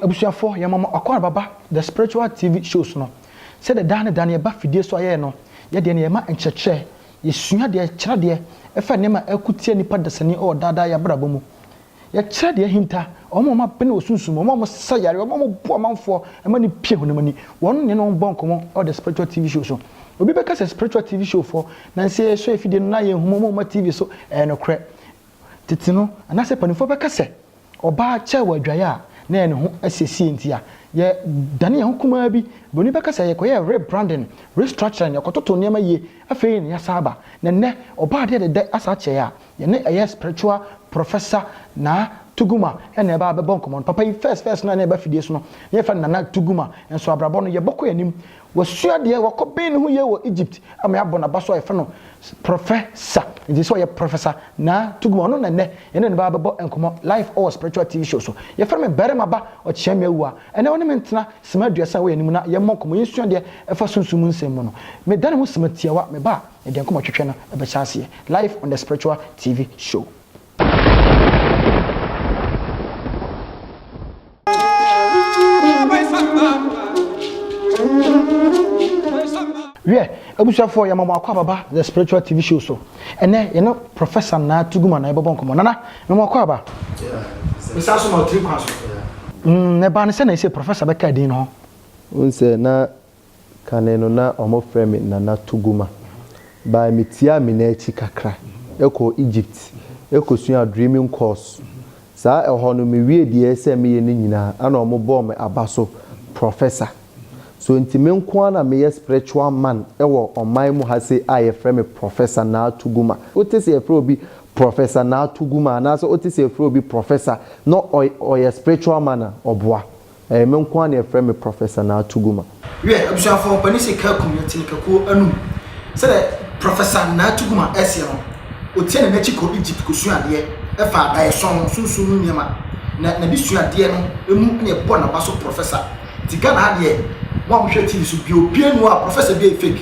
Abusuafoɔ yɛn mama Ɔkwara Baba the spiritual TV shows no sɛ dɛ daa ne daa no yɛba fidie so a yɛyɛ no yɛ deɛ no yɛma nkyerɛkyerɛ yɛsua deɛ kyerɛ deɛ ɛfa nneɛma a ɛko tia nipa dasani wɔ daa daa yɛ abrabɔ mu Yɛkyerɛ deɛ ahinta, wɔn a wɔabene wɔ sunsum mu, wɔn a wɔsa yareɛ, wɔn a wɔbu amanfoɔ ma no pie honam ani. Wɔn ne wɔn bɔ nkɔmmɔ wɔ the spiritual TV show so. Obi bɛka sɛ spiritual TV show foɔ na nsɛ yɛsɔ afidie no na yɛnhu mu wɔn ma TV so. Ɛyɛ nokorɛ. Tete no, anaasɛ mpanimfoɔ bɛka sɛ ɔbaa kyɛɛ wɔ adwaeɛ a na ɛyɛ ne ho asiesie nti a yɛdane yɛn ho kumaa bi. Buroni bɛka sɛ yɛkɔyɛɛ rebranding, restructuring, yɛkɔtotoo nneɛma yie, afei na yɛasan aba. Na nnɛ ɔbaa deɛ dɛdɛ asa akyɛe a Yɛne ɛyɛ spiritual professor Naa Tuguma na ɛba bɛbɔ nkɔmmɔ no. Papa yi first first no a na ɛba fidie so no, na yɛfrɛ no Nana Tuguma. Nso abrabɔ no, yɛbɔ kɔ yɛn anim. Wasua adeɛ, wakɔ bɛn ne ho yie wɔ Egypt ama yɛabɔ n'aba so a yɛfrɛ no professor. Nti sɛ ɔyɛ professor Naa Tuguma, ɔno na nnɛ yɛne no ba bɛbɔ nkɔmmɔ live wɔ spiritual TV show so. Yɛfrɛ me Barima Ba Ɔkyeame Awuah. Ɛnnɛ wo ne me ntena sima aduasa wɔ yɛn anim na yɛmmɔ nkɔmmɔ, yɛnsua adeɛ ɛfa sunsum mu nsɛm mu no. Meda ne ho sima tiawa, me ba a. Na deɛ nkɔmɔ twetwe no ɛbɛhyɛ aseɛ live on the spiritual TV show. Wiɛ, abusuafoɔ yɛma mo akɔ ababa the spiritual TV show so. Ɛnɛ yɛne Professor Naa Tuguma na yɛbɛbɔ nkɔmɔ. Nana, mema akɔ aba. Mesan so ma wo tiri kwan so. Mm, na ɛbaa no sɛn na ɛsɛ Professor bɛkaa din no ho? Wohu sɛ na Kane no na wɔfrɛ me Nana Tuguma. Bae mitiaa Mina akyi kakra kɔɔ Egypt kɔsuaa Dreaming course. Saa ɛhɔ no mewiee deɛ ɛsɛ meyɛ no nyinaa ɛna wɔbɔɔ me aba so Professor. So nti me nko ara na meyɛ spiritual man wɔ ɔman mu ha sei a yɛfrɛ me Professor Naa Tuguma? Wote sɛ yɛfrɛ obi Professor Naa Tuguma anaasɛ wote sɛ yɛfrɛ obi Professor na ɔyɛ spiritual man a, ɔboa. Ɛyɛ me nko ara na yɛfrɛ me Professor Naa Tuguma. Wiɛ, abusuafoɔ, ɔpanin se Kakum yɛ tene kakuo anum. Sɛdeɛ Professor Naa Tuguma seɛ no, ɔtia n'ani akyi kɔ Egypt kɔsua adeɛ fa adaeɛso ho, sunsum mu nneɛma, na n'adesuadeɛ no mu na yɛbɔɔ n'aba so Professor. Nti Ghana ha deɛ, mo a mohwɛ TV so, deɛ obiara nni hɔ a Professor biara yɛ fake.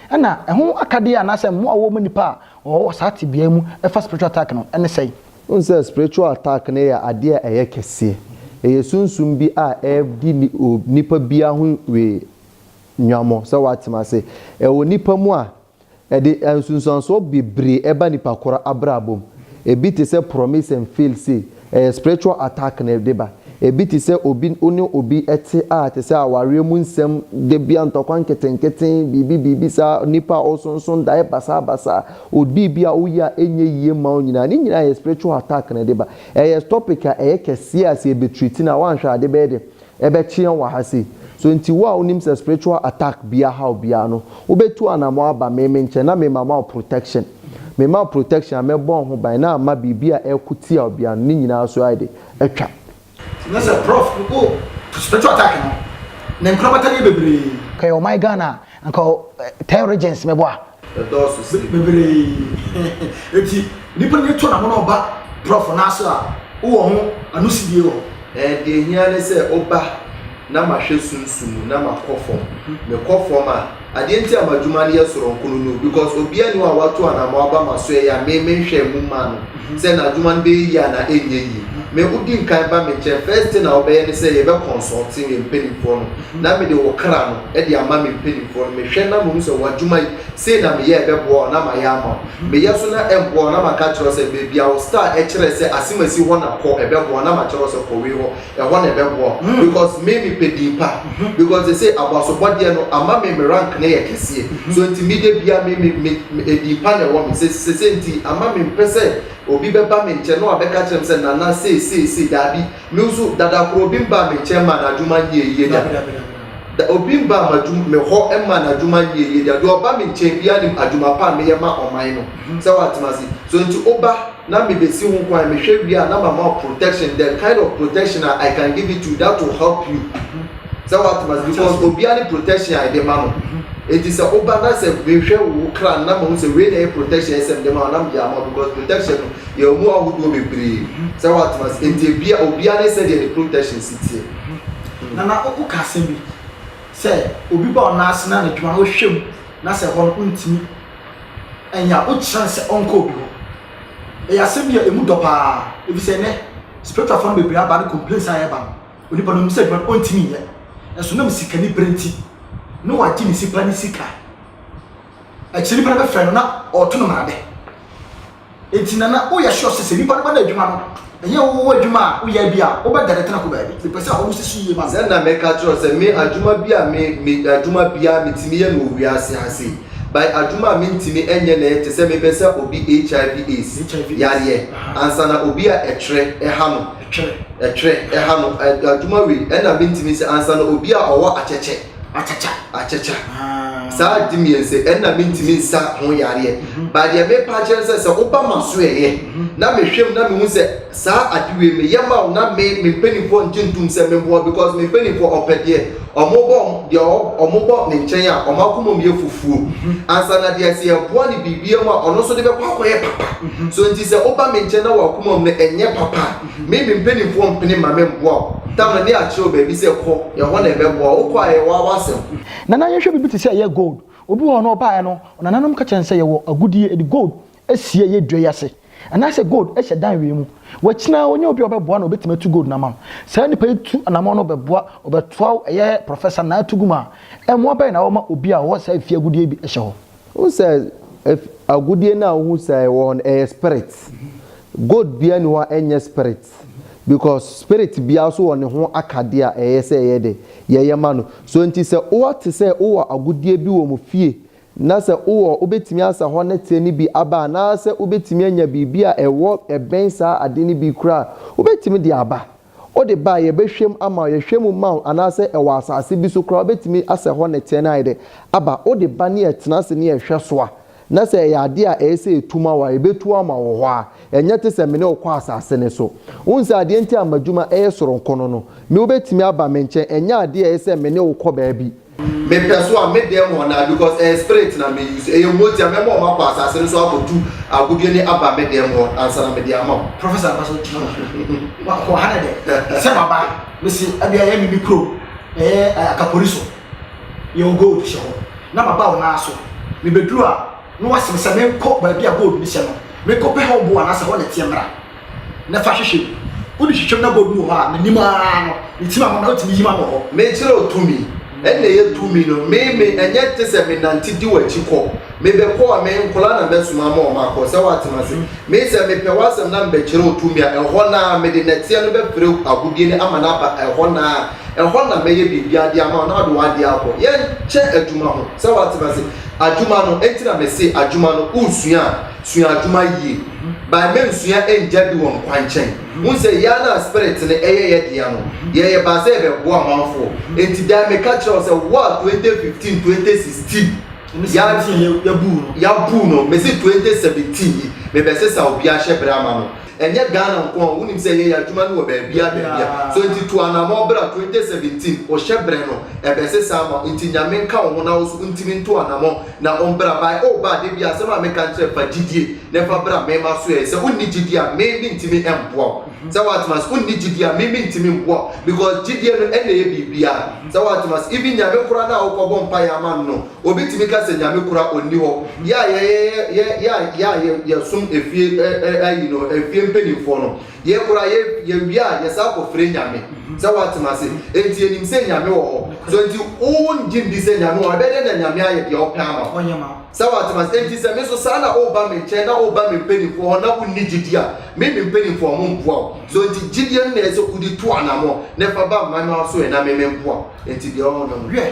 Ɛna ɛho akadeɛ anaasɛ mmoa a wɔwɔ mu nnipa a wɔwɔ wɔ saa tebea yi mu fa spiritual attack no ne sɛn? Wohu sɛ spiritual attack no yɛ adeɛ a ɛyɛ kɛseɛ. Ɛyɛ sunsum bi a ɛredi nipa biara ho wee nwammɔ sɛ woate m'ase. Ɛwɔ nipa mu a, ɛde nsunsuansoɔ bebree ba nipa korɔ abrabɔ mu. Ɛbi te sɛ promise and fail say, Ɛyɛ spiritual attack na ɛde ba. Ɛbi te sɛ obi wo ne obi te a te sɛ awareɛ mu nsɛm, da biara ntɔkwa nketenkete, biribi biribi saa, nipa a ɔsonso daeɛ basaa basaa, ɔdii bi a wo yɛ a ɛnyɛ yie mma wo nyinaa. Ne nyinaa yɛ spiritual attack na ɛde ba. Ɛyɛ topic a ɛyɛ kɛseɛ a sɛ yɛbɛtreat no a woanhwɛ a ade bɛyɛ dɛ Yɛbɛkyeɛ wɔ ha sei. So nti wo a wonim sɛ spiritual attack bi ahaw biara no, wobɛtu anamɔn aba me me nkyɛn na me ma ma wo protection? Me ma wo protection a, mɛbɔ wo ho ban na ama biribi a ɛreko tia wo biara no, ne nyinaa so ayɛ de, atwa. Nti na sɛ prof wo spiritual attack no, ne nkorabata no yɛ bebree. Kɛyɛ ɔman Ghana a, Anka ɔ tɛn regions mɛbɔ a. Ɛdɔɔso sen. Bebree enti nipa ani to namono ɔba prɔfo nan so a wowɔ ho anosidie wɔ. Ɛɛ deɛ ɛhia ne sɛ woba na ma hwɛ sunsum mu na ma kɔ fam. Me kɔ fam a, adeɛ nti a madwuma no yɛ soronko no no because obiara nni hɔ a watu anamɔ aba maso ɛyɛ a me me nhwɛɛ mu mmaa no sɛ n'adwuma no bɛyɛ yie anaa ɛnyɛ yie. Me wodi nkan ba me nkyɛn first thing a wobɛyɛ ne sɛ yɛbɛ consulting yɛn mpaninfoɔ no na mede wo kra no de ama me mpanimfoɔ no, mehwɛ na mahu sɛ w'adwuma yi, sei na meyɛ a ɛbɛboa wo, na mayɛ ama wo. Meyɛ so na ɛmmoa wo, na maka akyerɛ wo sɛ, baabi a wo star kyerɛ sɛ asemasi hɔ na kɔ, ɛbɛboa wo, na makyerɛ wo sɛ kɔ wei hɔ, ɛhɔ na ɛbɛboa wo, because me mepɛ din pa, because seesei abasobɔdeɛ no ama me me rank no yɛ kɛseɛ, so nti me da biara me, me, me, me edin pa na ɛwɔ me, se, seesei nti ama mempɛ sɛ obi bɛba me nkyɛn na wabɛka akyerɛ me sɛ, Nana sei, sei, sei, daabi. Me nso, dada koro obi mbaa me nkyɛn mmaa n'adwuma nyɛɛ yie da. Da obi mbaa m'adwum me hɔ mmaa n'adwuma nyɛɛ yie da. Deɛ ɔba me nkyɛn biara nim adwuma pa a meyɛ ma ɔman no. Sɛ wate me ase? So nti woba na mebɛsi ho kwan, mehwɛ wie a na mama wo protection, the kind of protection a I can give it to you that will help you. Sɛ wate m'ase because obia ne protection a yɛde ma no enti sɛ woba na sɛ mehwɛ wo kra no na mahu sɛ wei na ɛyɛ protection ɛsɛ mede ma wo na mede ama wo because protection no yɛwɔ mu ahodoɔ bebree sɛ wate m'ase enti ebia obia ne sɛdeɛ ne protection si teɛ. Nana woka asɛm bi sɛ obi ba ɔnan ase na anadwuma no wohwɛ mu na sɛ ɛhɔ no wontumi ɛnyɛ a wokyerɛ no sɛ ɔnkɔ obi hɔ ɛyɛ asɛm bi a ɛmu dɔ paa ɛfiri sɛ ɛnɛ spiritualfoɔ no bebree aba ne complaints a ɛba no Onipa no, onim sɛ adwuma no ɔntumi nyɛ, nanso nam sikanibere nti na wagye ne sipa ne sika. Akyire nipa no bɛfrɛ no na ɔreto no mmarabe. Enti nana woyɛ sure sɛ sɛ nipa no ba no adwuma no, ɛnyɛ wowɔ adwuma a woyɛ bi a wobɛdane tena ko baabi. Mepɛ sɛ ɔmo sisi yie ma me. Sɛ na mɛka akyerɛ wo sɛ me adwuma bi a me me adwuma biara metumi yɛ no wɔ wiase ha sei, by adwuma a mentumi nyɛ na ɛyɛ te sɛ mebɛsa obi HIV, AIDS, yareɛ ansa na obi a ɛtwerɛ ha no. Twerɛ, twerɛ, ɛha no adwuma wei ɛna mentumi sɛ ansa no obi a ɔwɔ akyɛkyɛ. Akyakya. Akyakya. Ah. Saa ade mmiɛnsa ɛna mentumi nsa ho yareɛ. Mhm. Ba deɛ mepa akyerɛ sɛ sɛ woba ma so ɛyɛ mhm. na mehwɛ mu na mehu sɛ saa ade wei meyɛ ma wo na me me mpanimfoɔ ngye ntom sɛ memboa because me mpanimfoɔ ɔpɛ deɛ Wɔbɔ deɛ wɔbɔ ne nkyɛn a, wɔn akoma mu yɛ fufuo ansa na deɛ sɛ yɛboa no biribiara mu a, ɔno nso de bɛkɔ akɔyɛ papa. So nti sɛ woba me nkyɛn na w'akoma mu no nyɛ papa a, me me mpanimfoɔ mpene mma memmoa wo. Tamale ne akyerɛ wo baabi sɛ kɔ, ɛhɔ na ɛbɛboa wo. Wokɔ a ɛyɛ wo ara w'asɛm. Nana yɛnhwɛ biribi te sɛ ɛyɛ gold. Obi wɔ hɔ no ɔbaeɛ no, nananom ka kyerɛɛ no sɛ yɛwɔ agudeɛ, yɛde gold si ɛyɛ dua yi ase anaasɛ gold hyɛ dan wei mu. Wakyina ara wonya obi a ɔbɛboa na ɔbɛtumi atu gold no ama wo. Saa nipa yi tu anamɔn no bɛboa ɔbɛtoa wo ɛyɛ prɔfɛsa na atu gu mu a, mmoa bɛn na wɔma obi a ɔwɔ saa efie agudeɛ bi hyɛ hɔ? Wohu sɛ agudeɛ no a wohu sɛ ɛwɔ hɔ no ɛyɛ spirit. Gold biara nni hɔ a ɛnyɛ spirit because spirit biara nso wɔ ne ho akadeɛ a ɛyɛ sɛ yɛyɛ dɛ? Yɛyɛ ma no. So nti sɛ woate sɛ wowɔ agudeɛ bi wɔ mo fie Na sɛ wowɔ, wobɛtumi asa hɔ nnɛteɛ no bi aba anaasɛ wobɛtumi anya biribi a ɛwɔ ɛbɛn saa ade no bi koraa a, wobɛtumi de aba. Wode ba a, yɛbɛhwɛ mu ama wo, yɛhwɛ mu ma wo anaasɛ ɛwɔ asase bi so koraa a, wobɛtumi asa hɔ nnɛteɛ no ayɛ dɛ aba. Wode ba ne yɛtena ase ne yɛhwɛ so a, na sɛ ɛyɛ adeɛ a ɛyɛ sɛ ɛtu ma wo a, yɛbɛtu ama wo hɔ ara. Ɛnyɛ te sɛ me ne wo kɔ asase no so. Wohu sɛ adeɛ nti a m'adwuma yɛ soronko no no, me wobɛtumi aba me nkyɛn. Ɛnyɛ adeɛ a ɛyɛ sɛ me ne wo kɔ baabi. Me pɛ so a me dɛm hɔ naa because ɛyɛ spirit na me use ɛyɛ mogya mɛma ɔmo akɔ asase no so akɔtu agodie ne aba me dɛm hɔ ansa na mede ama wo. Professor kɔ so gyina hɔ a wɔ ha na dɛ sɛ maba mesi ɛbi ɛyɛ me me kuro ɛyɛ akapori so yɛwɔ gold hyɛ hɔ na maba wo naa so me bɛduru a na waseme sɛ menkɔ baabi a gold no hyɛ no menkɔ pɛ hɔ boɔ anaasɛ hɔ na ɛteɛ mmra. na fa hwehwɛ mu. Wode hwehwɛ mu na bɔ duru hɔ a, menim ara no, ne ti ma ho na wotumi yi ma no hɔ. Me kyerɛw tumi, ɛnna ɛyɛ tumi no, me, me, ɛnyɛ te sɛ me nante di w'akyi kɔ. Me bɛ kɔ a, me nkoraa na mɛ soma ama wɔn akɔ, sɛ woate m'ase. Me sɛ me pɛ w'asɛm na me bɛ kyerɛw tumi a, ɛhɔ no ara, mede nɛteɛ no bɛ pere agodie no ama no aba ɛhɔ no ara, ɛhɔ na mɛ yɛ biribiara de ama wo na wode w'adeɛ akɔ. Yɛn kyɛ adwuma ho, sɛ woate m'ase, adwuma no, ɛnti na me se adwuma no, wo sua a, Sua adwuma yie. By ma nsua ngya di wɔn kwankyɛn. Wohu sɛ yɛa no a spirit no ɛyɛ yɛ dea no, yɛyɛ baa sɛ yɛbɛboa amanfoɔ. Enti dan meka kyerɛ wo sɛ wo a 2015, 2016 yɛa, yɛabuu no, mese 2017 yi mebɛsesa obiara hyɛ berɛ ama no. Ɛnyɛ Ghana nko a, wonim sɛ yɛyɛ adwuma no wɔ baabiara baabiara. So nti tu anamɔn bra 2017 wo hyɛ brɛ no ɛbɛsesa ama wo nti Nyame nka wo ho na wo so wontimi nto anamɔn na ombra by oh ba da biara asɛm a meka nkyerɛ fa gyidie na fa bra me masoɛɛ sɛ wonni gyidie a me mentimi mboa wo sɛ woate mase wonni gyidie a me mentimi mboa wo because gyidie no ɛna ɛyɛ biribiara sɛ woate mase even Nyame koraa no a wokɔbɔ mpaeɛ ama no no Obi tumi ka sɛ Nyame kora ɔnni hɔ. Yɛ a yɛyɛ yɛ yɛ a yɛsom efie ayi no efie mpanimfoɔ no, yɛ kora yɛ yɛwie a yɛsan kɔ fre Nyame. Sɛ woatem ase? Enti yɛnim sɛ Nyame wɔ hɔ. So enti wo ngye ndi sɛ Nyame wɔ hɔ? Ɛbɛyɛ dɛn na Nyame ayɛ deɛ ɔpɛ ama wo? Ɔnyɛ ma wo. Sɛ woatem ase? Enti sɛ me nso saa na woba me nkyɛn na woba me mpanimfoɔ hɔ na wonni gyidie a, me me mpanimfoɔ a wɔmmoa wo. So enti gyidie no na ɛyɛ sɛ wode tu anamɔ na fa ba mmayewa so ɛ na me memmoa wo. Enti deɛ ɔhɔ no no. Wiɛ.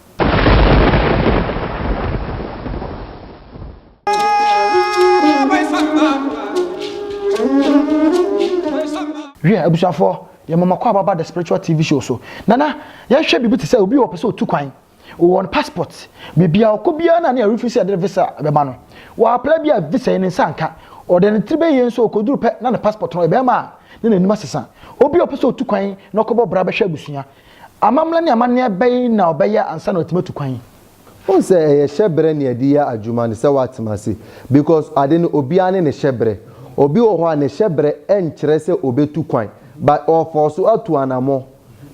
Hwɛ, abusuafoɔ, yɛn mama kɔ ababa the spiritual TV show so. Nana, yɛhwɛ biribi te sɛ obi wɔ pɛ sɛ otu kwan. Wɔwɔ no passport. Biribi a ɔkɔ biara na ne yɛrefi sɛ yɛde visa bɛma no. Wɔapla bi a visa yi ne nsa nka. Ɔde ne tiri bɛyɛ yɛn nso ɔkɔduru pɛ na ne passport no ɔyɛ bɛrima a na n'anim asesa. Obi a ɔpɛ sɛ otu kwan na ɔkɔbɔ bra bɛhwɛ abusua. Amammerɛ ne amanneɛ bɛn na ɔbɛyɛ ansa na watumi atu kwan? Wohu sɛ ɛyɛ hyɛbrɛ ne yɛde yɛ adwuma ne sɛ woatena ase because ade no obiara ne ne hyɛbrɛ. Obi wɔ hɔ a ne hyɛbrɛ nkyerɛ sɛ obetu kwan but ɔɔfɔɔso atu anamɔ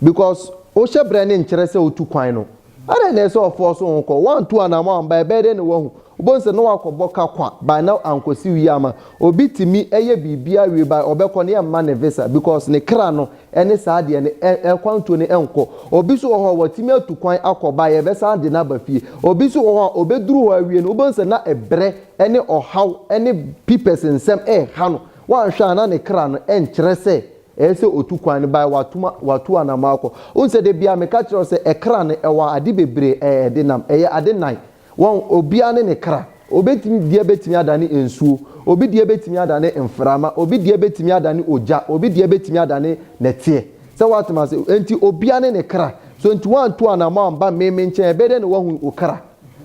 because wo hyɛbrɛ no nkyerɛ sɛ wotu kwan no. Adɛn na ɛsɛ sɛ ɔfoɔ so ho kɔ? Woantu anammɔn amba, ɛbɛyɛ dɛn na woahu? Wobɛhu sɛ na woakɔbɔ ka kwa by na ankɔsi wie ama. Obi tumi yɛ biribiara wie by ɔbɛkɔ no yɛmma no visa because ne kra no ne saa deɛ no ɛ ɛ kwantuo no nkɔ. Obi nso wɔ hɔ a watumi atu kwan akɔ by yɛbɛsan de no aba fie. Obi nso wɔ hɔ a ɔbɛduru hɔ awie no wobɛhu sɛ na ɛbrɛ ne ɔhaw ne pipɛs nsɛm reha no. Woanhwɛ a na ne kra no nkyerɛ sɛ Ɛyɛ sɛ ɔtu kwan no bae, watom a, watu anamɔ akɔ. Wohu sɛ da biara meka kyerɛ wo sɛ ɛkra no, ɛwɔ ade bebree a ɛde nam. Ɛyɛ ade nnan. Wɔn, obiara ne ne kra. Obi deɛ bɛtumi adane nsuo, obi deɛ bɛtumi adane mframa, obi deɛ bɛtumi adane ogya, obi deɛ bɛtumi adane nɛteɛ. Sɛ woate m'ase? Enti obiara ne ne kra. So enti woantu anamɔ amba me, me nkyɛn? Ɛbɛyɛ dɛn na woahu wo kra?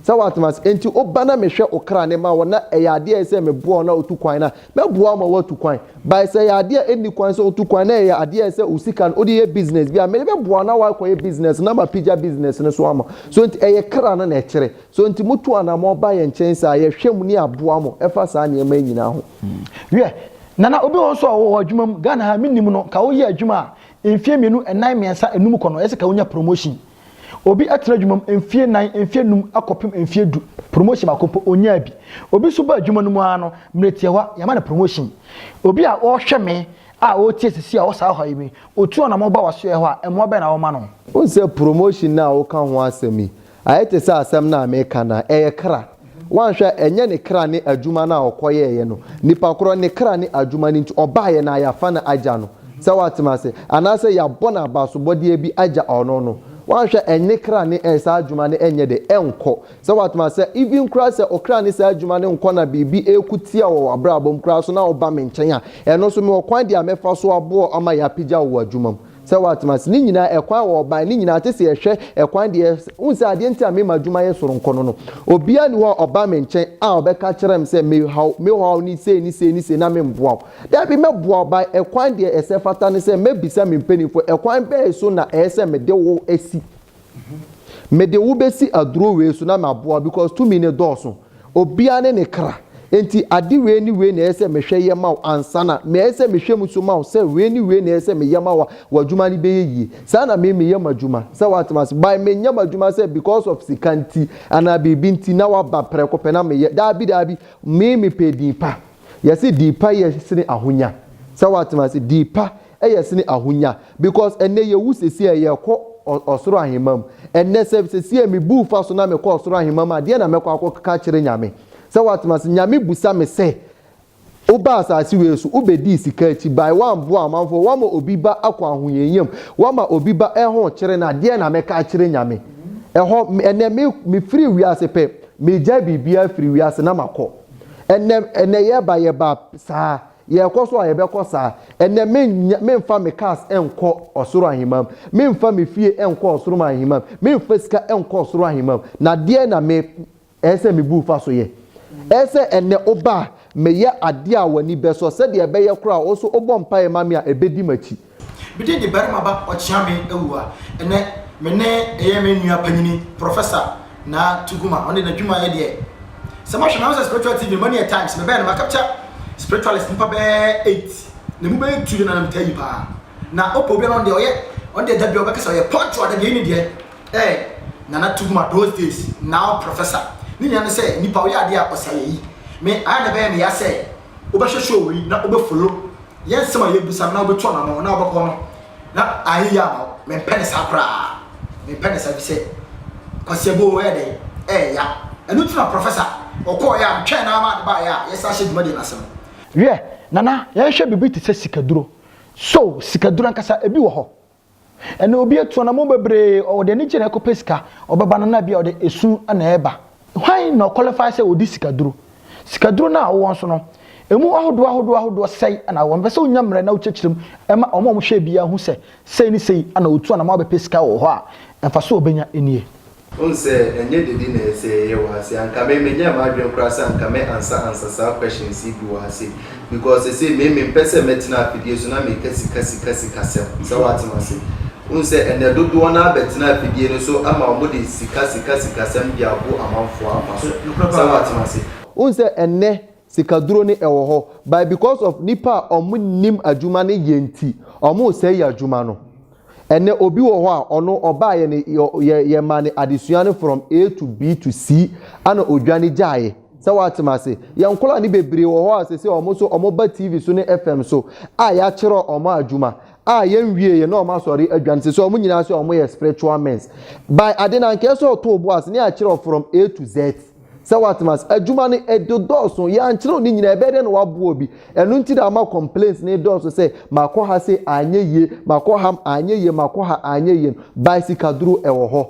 Sɛ woatem ase. Enti woba na mehwɛ wo kra na mema wo na ɛyɛ adeɛ a ɛyɛ sɛ meboa wo na wotu kwan no a, mɛboa wo ma woatu kwan. But sɛ ɛyɛ adeɛ a ɛnni kwan sɛ wotu kwan na ɛyɛ adeɛ a ɛyɛ sɛ wo sika no wode yɛ business bi a, mede bɛboa wo na woakɔyɛ business no na mapagya business no so ama wo. So enti ɛyɛ kra no na ɛkyerɛ. So enti motu anammɔn ba yɛn nkyɛn saa a, yɛhwɛ mu ne aboa mo ɛfa saa nneɛma yi nyinaa ho. Wiɛ, Nana, obi wɔ hɔ nso a ɔwɔ adwuma mu, Ghana ha a mennim no, nka woyɛ adwuma a mfeɛ mmienu, nnan, mmiɛnsa, nnum kɔ no, ɛyɛ sɛ nka wonya promotion. Obi atena adwuma mu mfeɛ nan, mfeɛ nnum akɔpem mfeɛ du, promotion baako mpo ɔnyaa bi. Obi nso ba adwuma no mu ara no, mmerɛ tiawa yɛama no promotion. Obi a ɔrehwɛ me a ɔretie sisi a ɔwɔ saa ɔhaw yi mu yi, ɔtu anamɔ ba w'asoɛɛ hɔ a, mmoa bɛn na woma no? Wohu sɛ promotion no a woka ho asɛm yi, ayɛ te sɛ asɛm no a meka no a, ɛyɛ kra. Woanhwɛ a, ɛnyɛ ne kra ne adwuma no a ɔkɔyɛeɛ no. Nipa korɔ, ne kra ne adwuma no nti, ɔbaeɛ na yɛafa no agya no. Sɛ woate me ase? Anaasɛ yɛabɔ no abasobɔdeɛ bi agya ɔno no. Woanhwɛ a, ɛnne kra ne ɛɛ saa adwuma no ɛnyɛ dɛ? Ɛnkɔ. Sɛ woate me ase? Even koraa sɛ ɔkra ne saa adwuma no nkɔ na biribi ɛɛko tia wɔ w'abrabɔ mu koraa so na woba me nkyɛn a, ɛno nso mewɔ kwan deɛ a mɛfa so aboɔ ama yɛapagya wo wɔ adwuma mu. Sɛ watena ase ne nyinaa, ɛkwan a wɔbae ne nyinaa, te sɛ yɛhwɛ ɛkwan deɛ ɛyɛ. Wohu sɛ adeɛ nti a mema adwuma yɛ soronko no no, obiara nni hɔ a ɔba me nkyɛn a ɔbɛka kyerɛ me sɛ, Mehaw, mehaw ne sei ne sei ne sei na memmoa wo. Dabi, mɛboa wo. By ɛkwan deɛ ɛsɛ fata ne sɛ mɛbisa me mpanimfoɔ, ɛkwan bɛn so na ɛyɛ sɛ mede wo si? Mede wo bɛsi aduro wei so na maboa wo because tumi no dɔɔso. Obiara ne ne kra. Enti ade wei ne wei na ɛyɛ sɛ mehwɛ yɛ ma wo ansa na ɛyɛ sɛ mehwɛ mu nso ma wo sɛ wei ne wei na ɛyɛ sɛ meyɛ ma wo a w'adwuma no bɛyɛ yie. Saa na me meyɛ m'adwuma. Sɛ woate m'ase? But menyɛ m'adwuma sɛ because of sika nti anaa biribi nti na woaba prɛko pɛ na meyɛ. Daabi daabi. Me mepɛ din pa. Wɔse din pa yɛ sene ahonya. Sɛ woate m'ase? Din pa Ɛyɛ sene ahonya because ɛnɛ yɛwu sesie a yɛkɔ ɔsoro ahemma mu. Ɛnɛ sɛ sesie me bu fa so na mekɔ ɔsoro ahemma mu a deɛ na mɛkɔ akɔka akyerɛ Nyame? Sɛ woatem ase? Nyame busa me sɛ wobaa asase wei so wobɛdii sika akyi bae woamboa amanfoɔ woama obi ba akɔ ahohiahia mu woama obi ba ɛho kyere no a deɛ na mɛka akyerɛ Nyame? Ɛhɔ ɛnɛ me me firi wiase pɛ megyae biribiara firi wiase na makɔ. Ɛnɛ ɛnɛ yɛba yɛba saa. Yɛkɔ so a, yɛbɛkɔ saa. Ɛnnɛ, mennya, memfa me cars nkɔ ɔsoro ahemam. Memfa me fie nkɔ ɔsoro ahemam. Memfa sika nkɔ ɔsoro ahemam. Na deɛn na me, ɛɛ sɛ mebu fa so yɛ? Ɛɛ sɛ ɛnnɛ woba a, meyɛ adeɛ a w'ani bɛsɔ, sɛdeɛ ɛbɛyɛ koraa a, wo nso wobɔ mpaeɛ ma me a, ɛbɛdi m'akyi. Mede ne barima ba Ɔkyeame awu a ɛnnɛ me ne ɛyɛ me nua panyini Professor Naa Tuguma ɔno deɛ n'adwuma yɛ deɛ sɛ mohwɛ na ho sɛ spiritual TV no mani yɛ times me bɛɛ no ma capture spiritualist nipa bɛɛ eight na mu bɛyɛ two deɛ na na me taa yi paa na ɔpɛ obi a na ɔno deɛ ɔyɛ ɔno deɛ da bi a ɔbɛka sɛ ɔyɛ punctual da bi ɛyi ne deɛ ɛɛ Nana Tuguma those days now Professor ne nyinaa ne sɛ nipa ɔyɛ adeɛ a ɔsɛ ayɛ yi me ayɛ na ɛbɛyɛ me ya sɛ wobɛhwɛ show yi na wobɛ follow yɛn nsɛm a yɛbisa no na wobɛtu anamɔ na wobɛkɔ no na ayɛ yɛ ama wo mempɛ ne saa koraa mempɛ ne saa bi sɛ kwasi ɛbɔ ɛyɛ dɛ ɛyɛ ya ɛno nti na professor ɔkɔɔ yɛ a metwɛn na ama adeba yɛ a yɛsan hyɛ dwumadie no ase no. Wiɛ, Nana, yɛnhwɛ biribi te sɛ sikaduro. So sikaduro ankasa, ebi wɔ hɔ? Ɛna obi atu anammɔn bebree, ɔde anigye na ɛkɔpɛ sika, ɔbɛba no na ebia ɔde esu na ɛreba. Hwan na ɔqualify sɛ ɔdi sikaduro? Sikaduro no a wowɔ nso no, ɛmu ahodoɔ ahodoɔ ahodoɔ sɛe na wowɔ. Mepɛ sɛ wonya mmerɛ na wokyerɛkyerɛ mu ma wɔn a wɔhwɛ biara hu sɛ, sei ne sei na ɔtu anammɔn abɛpɛ sika wɔ hɔ a, mfasoɔ a ɔbɛnya nie. Wohu sɛ ɛnyɛ dede na ɛsɛ sɛ yɛyɛ wɔ ase. Anka me menyɛɛ m'adwene koraa sɛ anka me ansa ansa saa questions yi bi wɔ ase. Because sesei me me mpɛ sɛ mɛtena afidie so na meka sika sika sika sɛm. Sɛ wate m'ase. Wohu sɛ ɛnɛ dodoɔ no ara bɛtena afidie no so ama wɔn de sika sika sika sɛm de abo amanfoɔ afa so. Sɛ wate m'ase. Wohu sɛ ɛnɛ Sikaduro no ɛwɔ hɔ but because of nipa a ɔmo nim adwuma no yɛ nti ɔmo sɛe yɛ adwuma no. Ɛnɛ obi wɔ hɔ a ɔno ɔbaayɛ no yɛ yɛ maa no adesua no from A to B to C ɛna odwane gyaeɛ. Sɛ w'ate m'ase. Yɛ nkwadaa no bebree wɔ hɔ a sɛsɛ ɔmo nso ɔmo ba TV so ne FM so a y'akyerɛ ɔmo adwuma a yɛ nwieɛ na ɔmo asɔre adwane sɛsɛ ɔmo nyinaa sɛ ɔmo yɛ spiritual mens by ade no anka ɛsɛ ɔtoo bo ase na y'akyerɛ from A to Z. Sɛ woatem ase. Adwuma no ɛde dɔɔso. Yɛankyerɛw ne nyinaa. Ɛbɛyɛ dɛn na woaboa obi? Ɛno nti na ama complaints no redɔɔso sɛ makɔ ha se anyɛ yie, makɔ ha anyɛ yie, makɔ ha anyɛ yie no. By sikaduro ɛwɔ hɔ.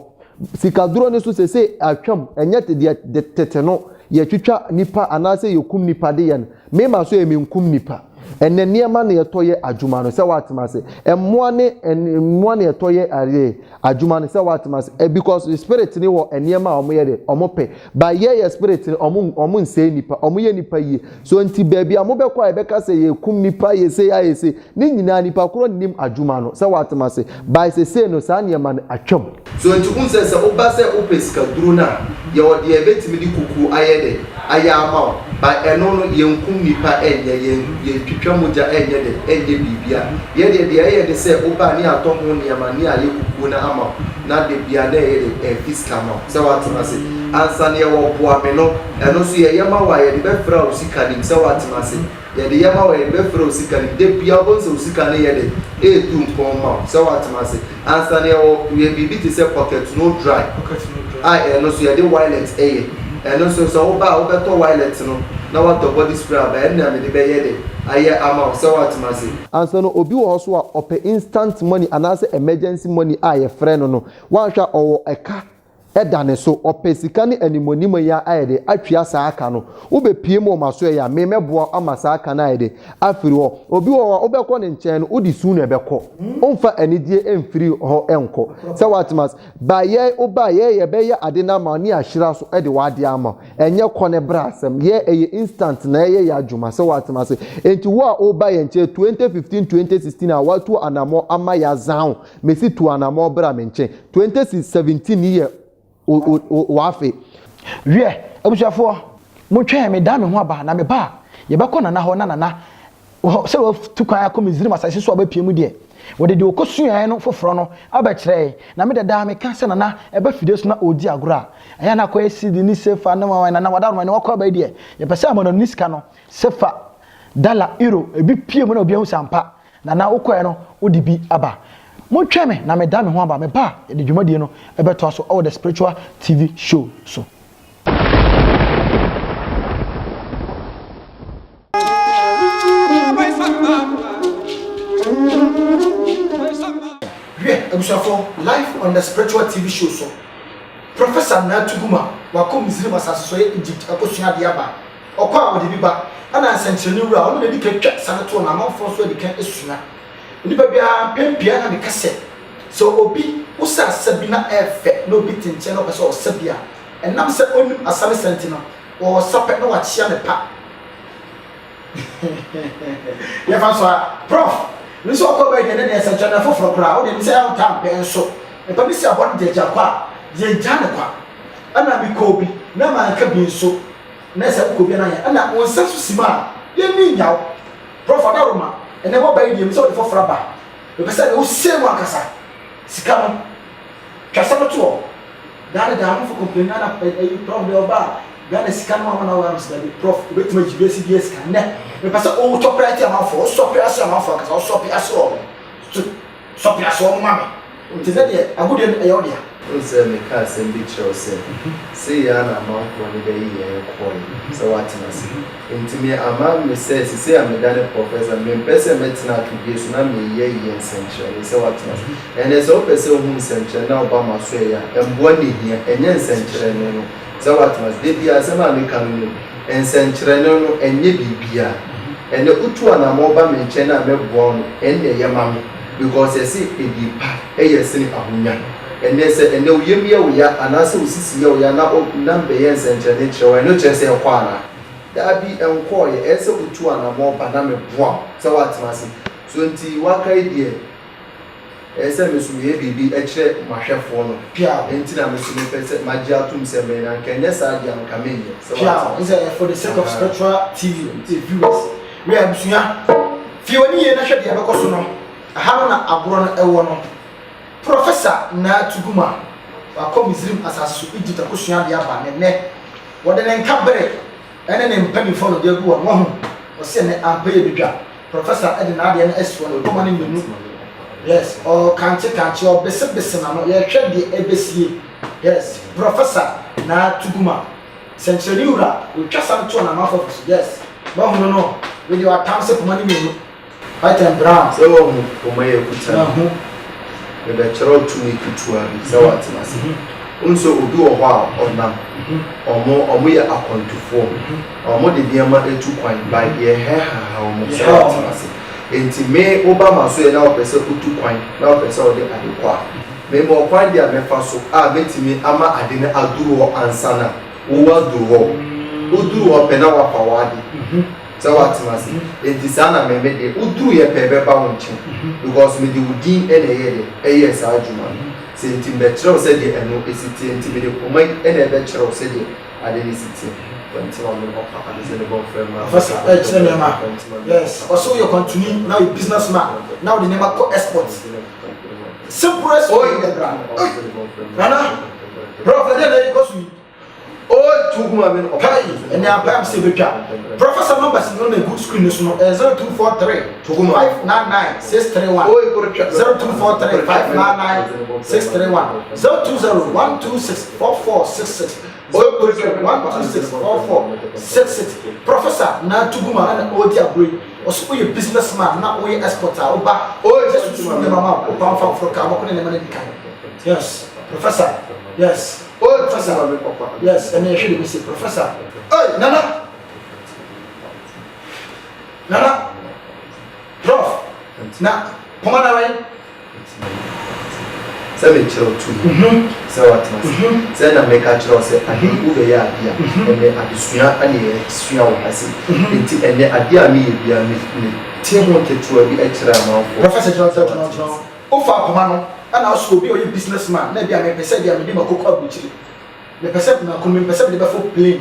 Sikaduro no nso seesei atwam. Ɛnyɛ te deɛ tete no yɛtwitwa nnipa anaasɛ yɛkum nnipa de yɛ no. Mema so yɛ menkum nipa. Ɛnɛ nneɛma na yɛtɔ yɛ adwuma no sɛ watem ase. Mmoa ne mmoa na yɛtɔ yɛ adeɛ adwuma no sɛ watem ase. Eh, because the spirit ne wɔ nneɛma a wɔn yɛ de wɔn pɛ. But yɛ yɛ spirit no wɔn wɔn nsɛe nipa. Wɔn yɛ nipa yie. So nti baabi a wɔn bɛkɔ a yɛbɛka sɛ yɛkum nipa yɛ se ayɛ se. Ne nyinaa nipa korɔ nnim adwuma no sɛ watem ase by sesei no saa nneɛma no atwam. So nti wohu sɛ sɛ woba sɛ wopɛ sika duro no a yɛwɔ deɛ yɛbɛtumi de kukuo ayɛ dɛ ayɛ ama wo but ɛno no yɛnkum nipa ɛnyɛ yɛn yɛntwitwa mogya ɛnyɛ dɛ ɛnyɛ biribia yɛ deɛ deɛ ɛyɛ de sɛ woba a ne yɛatɔ ho nneɛma ne ayɛ kukuo no ama wo na da bia na ɛyɛ dɛ ɛfi sika ma wo sɛ watem ase ansa na yɛwɔ boa me no ɛno nso yɛyɛ ma wo a yɛde bɛfra wo sika nim sɛ watem ase. Yɛde yɛ ma wo a yɛde bɛfrɛ wo sika no da biara wobɛhu sɛ wo sika no yɛ dɛn ɛretu mpɔn ma wo sɛ woatena ase ansa no yɛwɔ yɛ biribi te sɛ pocket no dry a ɛno nso yɛde wilet ɛyɛ ɛno nso sɛ wo ba a wobɛtɔ wilet no na woatɔ body spray aba ɛno na mede bɛyɛ dɛn ayɛ ama wo sɛ woatena ase. Ansa no obi wɔ hɔ nso a ɔpɛ instant money anaasɛ emergency money a yɛfrɛ no no woanhwɛ a ɔwɔ ɛka da ne so, ɔpɛ sika ne animuanim yi a ayɛ de atwea saa ka no. Wobɛpue mu wɔ m'asoɛeɛ a, me mɛboa wo ama saa ka no ayɛ de afiri hɔ. Obi wɔ hɔ a wobɛkɔ ne nkyɛn no, wode su na ɛbɛkɔ. Womfa anigyeɛ mfiri hɔ nkɔ. Sɛ woate m'ase. Ba yɛn, woba a, yɛn yɛbɛyɛ ade no ama wo ne yɛahyira so de w'adeɛ ama wo. Ɛnyɛ kɔ ne bra asɛm. Yɛn ɛyɛ instant na ɛyɛ yɛn adwuma. Sɛ woate m'ase. Enti wo a woreba yɛn nkyɛn 2015, 2016 a woatu anamɔ ama yɛazan wo, Mesi tu anamɔ bra me nkyen. Twenty si seventeen yi yɛ oafe. Wiɛ, abusuafoɔ, montwɛn me dan me ho aba, na meba a, yɛbɛkɔ Nana hɔ, na Nana, wɔ sɛ watu kwan akɔ Misraim asase so a wabɛpue mu deɛ, wɔde deɛ ɔkɔsuaeɛ no foforɔ no abɛkyerɛ yɛn, na me dada meka sɛ Nana ɛba fidie so na ɔredi agorɔ a, ɛyɛ a na akɔyɛ CD ne Sefa ne wawan, Nana w'adaworoma ne wakɔ aba yi deɛ, yɛpɛ sɛ amanɔne sika no, Sefa, Dala, Euro, ɛbi pue mu na obi ahu sɛ ampa, Nana wokɔɛ no wode bi aba. Montwɛn me na meda me ho aba, meba a yɛde dwumadie no bɛtoa so wɔ The Spiritual TV Show so. Hwɛ abusuafoɔ live on The Spiritual TV Show so, Professor Nana Tuguma wakɔ Misraim asase so yɛ Egypt akɔsua adeɛ aba. Ɔkɔ a wɔde bi ba, ɛnna nsɛnkyerɛnne wura a ɔno na edi kan twa sane toɔ na amanfoɔ nso adi kan sua. Onipa biara mpɛn pii ara na meka sɛ, sɛ obi wosa asa bi na ɛyɛ fɛ na obi te nkyɛn na ɔpɛ sɛ ɔsa bi a, ɛnam sɛ onnim asa ne sa nti no, ɔresa pɛ na wakyea ne pa. Yɛmfa nso a, Prɔf. Me nso ɔkɔ a ɛbɛyɛ deɛ ɛnnɛ deɛ yɛ sɛnkyerɛnne foforɔ koraa, wo deɛ nim sɛ ɛyɛ a wontaa mpɛ nso. Mpa bi si aboa no gyaagyaa kɔ a, deɛ gyaa no kwa. Ɛnna mekɔɔ bi na manka bi nso. Nɛ sɛ wokɔ bia na yɛ na wo nsa so sim a yɛ ni nya wo. Prof ada roma ɛnɛ waba yi deɛ mepɛ sɛ wode fɔforɔ aba mepɛ sɛ nɛ wo sei mu ankasa sika no twa sɛ no toɔ daa ne daa amafo complain na ɛyi prof deɛ ɔba a Ghana sika no wama na wɔ amsa dabi prof obɛtumi agyi wiase bia sika nɛ mepɛ sɛ wo tɔpɛ ate amafo wo sɔpɛ ase amafo ankasa wo sɔpɛ ase ɔmo so Sɔ peasoɔ no ma me. Nti sɛ deɛ agudeɛ no ɛyɛ wo dea. Wohu sɛ meka asɛm bi kyerɛ wo sɛ, sei ara na amanfoɔ no bɛyi yɛn kɔɔe sɛ wɔatena ase. Nti me ama me sɛ sesei a medane Professor, mempɛ sɛ mɛtena atodie so na meyi ayi yɛn nsɛnkyerɛnee sɛ wɔatena ase. Ɛnneɛ sɛ wopɛ sɛ wohu nsɛnkyerɛnee na woba m'asoɛeɛ a, mmoa na ɛhia, ɛnyɛ nsɛnkyerɛnee no. sɛ watena ase. Da biara, asɛm a meka no mu nsɛnkyerɛnne no, ɛnyɛ biribiara. Ɛnnɛ, wotu anammɔn ba me nkyɛn a mɛboa wo no, ɛnna ɛyɛ ma me, because ɛse edin pa yɛ sene ahonya. Ɛnnɛ, sɛ ɛnnɛ wo yam yɛ wo ya anaasɛ wo sisi yɛ wo ya na o, na mebɛyɛ nsɛnkyerɛnne kyerɛ wo a, ɛno kyerɛ sɛ ɛkɔ anaa? Dabi, ɛnkɔeɛ. Ɛyɛ sɛ wotu anammɔn ba na meboa wo sɛ woatena ase. So nti, woakae deɛ. Ɛyɛ sɛ me nso meyɛ biribi kyerɛ m'ahwɛfoɔ no. Piaw. Enti na me nso mepɛ sɛ magye atom sɛ me na anka ɛnyɛ saa deɛ a anka menyɛ. Sɛ woate? Piaw. Ɛne sɛ, for the sake of spiritual TV viewers, wia abusua, fie w'ani yie na hwɛ deɛ ɛbɛkɔ so no. Ɛha no na agorɔ no ɛwɔ no. Professor Naa Tuguma, wakɔ Misrim asase so Egypt akɔsua adeɛ aba na ɛnnɛ wɔde ne nka bere ne ne mpanimfoɔ no de agu hɔ no. Wahu? Ɔse ɛnnɛ ampa yɛ bɛdwa. Professor de n'adeɛ no asi hɔ no, ntoma no mmienu, yes, ɔkankyekankye, ɔbesebese n'ano, yɛhwɛ deɛ ɛbɛsie, yes, Professor Naa Tuguma, sɛnkyerɛnne wura, ɔtwa sa no toɔ na amanfoɔ fa so, yes, moahunu no, wei deɛ watam sɛ poma no mmienu, white and brown. Sɛ wɔhu poma yɛ kuta no, Mahu. mebɛkyerɛw tumi ketewa bi sɛ wɔatena ase. Wohu sɛ obi wɔ hɔ a ɔnam, wɔn, wɔyɛ akwantufoɔ. Wɔde nneɛma atu kwan, like yɛ hair haha wɔn sɛ wɔatena ase. Enti me, wo ba ma so yɛ na ɔpɛ sɛ ɔtu kwan, na ɔpɛ sɛ ɔde ade kɔ a, mema ɔkwan deɛ a mɛfa so a mɛtumi ama ade no aduru hɔ ansa na wo waduru hɔ. Woduru hɔ pɛ na wafa w'ade sɛ watena ase. Enti saa na me, me deɛ, woduruiɛ pɛ bɛba wo nkyɛn because mede wo din na ɛyɛɛ dɛ, ɛyɛɛ saa adwuma no. Sɛ enti mebɛkyerɛ wo sɛdeɛ ɛno ɛsi teɛ, enti mede poma yi na ɛbɛkyerɛ wo sɛdeɛ. ade ne si te, kwantim a ɔne ɔfa ade sɛ ne bɔfo mma ɔfa so kyerɛ nneɛma yes ɔfa so yɛ kwantuni na yɛ business man na ɔde nneɛma kɔ export simple as oyi dɛ bra nana brɔfo dɛ na ɛkɔ so yi oyi tu gu ma mi no ɔpa yi ɛnɛ abam sɛ ebetwa professor numbers no na egu screen no so no ɛyɛ zero two four three. Togo no. 599-631 0243 599-631 0203 126 4466 Oye Korohwɛ 020 126 4466 Professor na Togo no ana na ɔredi agorɔ yi ɔse woyɛ business man na woyɛ export a woba Oye Jesu nsuo nneɛma ma wo pam fa foro kaa bɔkɔ ne nneɛma no adi kan yes Professor yes Oye Professor yes ɛnɛ yɛhwɛ deɛ mese Professor Oye Nana. Nana prof na poma na wɛn. Sɛ me kyerɛ wo tumi sɛ watena ase sɛ na me ka kyerɛ wo sɛ ade wo bɛ yɛ ade a ɛnɛ adesua ɛne yɛ sua wɔ ha se nti ɛnɛ ade a me yɛ bia me me te ho ketewa bi ɛkyerɛ amanfoɔ. Professor gyina gyina gyina gyina hɔ wo faa poma no ɛna wo so obi a ɔyɛ business man na ɛbia me pɛ sɛ ɛbia me de makoko aburukyire me pɛ sɛ mako no me pɛ sɛ me de bɛfo plane.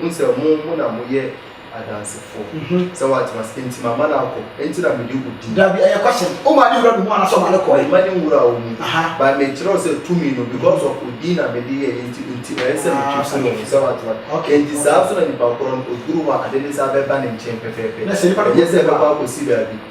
Hu sɛ mo mo na mo yɛ adansefo. Sɛ wate ma se, Enti mama no akɔ, enti na mede wo di. Dabi, ɛyɛ kwasem. O maa ne wura no mu anaa sɛ ɔmaa no kɔe? Mema ne nwura wo mu. But me kyerɛ wo sɛ tumi no, because of wo din na mede yɛe nti, enti ɛyɛ sɛ me twi sene wo. Sɛ wate ma? Enti saa nso na nipa korɔ no, oduru hɔ a, ade ne saa bɛba ne nkyen pɛpɛɛpɛ. Ɛnyɛ sɛ ɛbɛkɔ akɔsi baabi.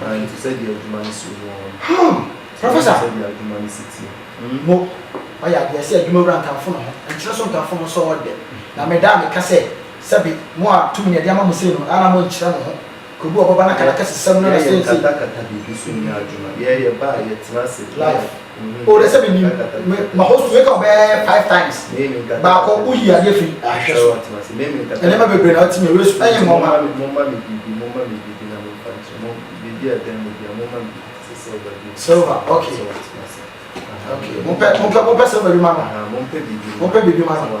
Nanso sɛdeɛ adwuma no si wɔ hɔ no, sɛ wohu sɛdeɛ adwuma no si teɛ. Mo, ɔyɛ adeɛ sɛ adwuma wura nkamfo ne ho, nkyerɛ so nkamfo no sɔɔ dɛ, na meda a meka sɛ, sɛbe, mo a tumi na yɛde ama mo sei no, a na mo nkyerɛ mo ho, kɔbu ɔbɔba no akadakasisɛm no na sɛnsei. Yɛyɛ nkata kata biribi so nyɛ adwuma, yɛyɛ ba a yɛtena ase, life. o oh, dɛsɛ mi nim me ma hɔ su eka ɔbɛ five times baako o yi adeɛ fi ahwɛ so ɛnɛ ma bebree na ɔte mi ewe su ɛyɛ mɔ ma. silver okay okay mo pɛ mo pɛ mo pɛ silver bi ma no mo pɛ bibi ma no.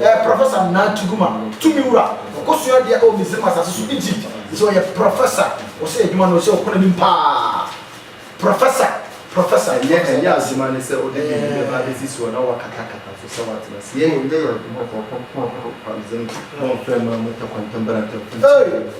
Ɛɛ Professor Nana Tuguma, Tumi Wura, ɔkɔ sua adeɛ ɛwɔ Misrim asase so, Egypt, ɔsɛ ɔyɛ Professor, ɔsɛ adwuma no ɔsɛ ɔkɔ n'anim paa, Professor, Professor, Ɛnyɛ Professor. ɛnyɛ adwuma ne sɛ wode biribi bɛba abɛsi soɔ na woakatakata so sɛ woatena ase. Yei yɛ yɛn adwuma kɔkɔ, Kɔn Kɔkɔ Kwabzem, Bɔn Fɛn Mma Mu Tɛ Kwantam Bɛrɛntɛm Fɛn Sum Hey! Bɛrɛntɛm.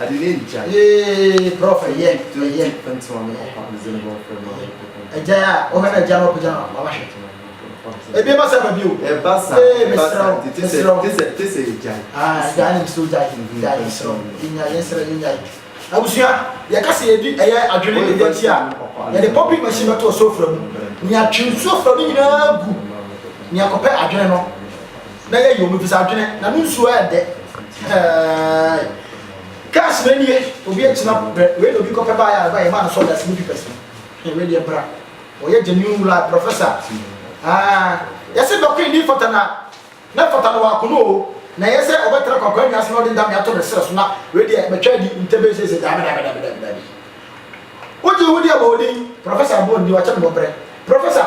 Adene ntia yee prɔfɛ yɛn tɔ yɛn ntoma me papa meze ne bɔ fɛ ma agya a ɔhɛ na agya na ɔpagya na mama hwɛ ebi ba sɛ ma bio ɛba sa ɛba sa tete sɛ tese tese agya ah agya ne msɛ agya agya yɛn srɛ yɛnya yɛn srɛ yɛnya abusua yɛka sɛ yɛdi ɛyɛ adwene ne yɛn ti a yɛde pɔpi machine bɛto ɔsofra mu nea twe nsuo fra no nyinaa gu nea kɔpɛ adwene no na yɛyɛ omi fisa adwene na no nsuo ayɛ dɛ hɛɛɛ cars na nie obi akyina brɛ wei na obi kɔpɛ baa yɛ araba yɛ maa no sɔda sini pipɛs no wei deɛ bra wɔyɛ genuine wula professor aa yɛse dɔko ni fata na na fata na wakono o na yɛ sɛ ɔbɛtena kwakwa nnwa ase na ɔde ndame ato ne serɛ so na wei deɛ bɛtwa adi ntɛbɛ sese daabi daabi daabi daabi daabi wogye ho deɛ bɔ odin professor bɔ ndi wakyɛ no bɔbrɛ professor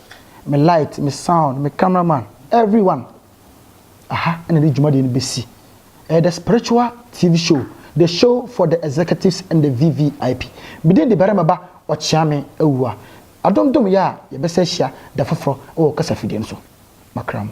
me light, me sound, me camera man, everyone. Aha na ɛde dwumadie no bɛsi. Ɛyɛ the spiritual TV show, the show for the executives and the VVIP. Medin de barima ba ɔkyeame awua. Adom dom yɛ a yɛbɛsɛ ahyia da foforɔ wɔ kasafidie no so. Makra mu.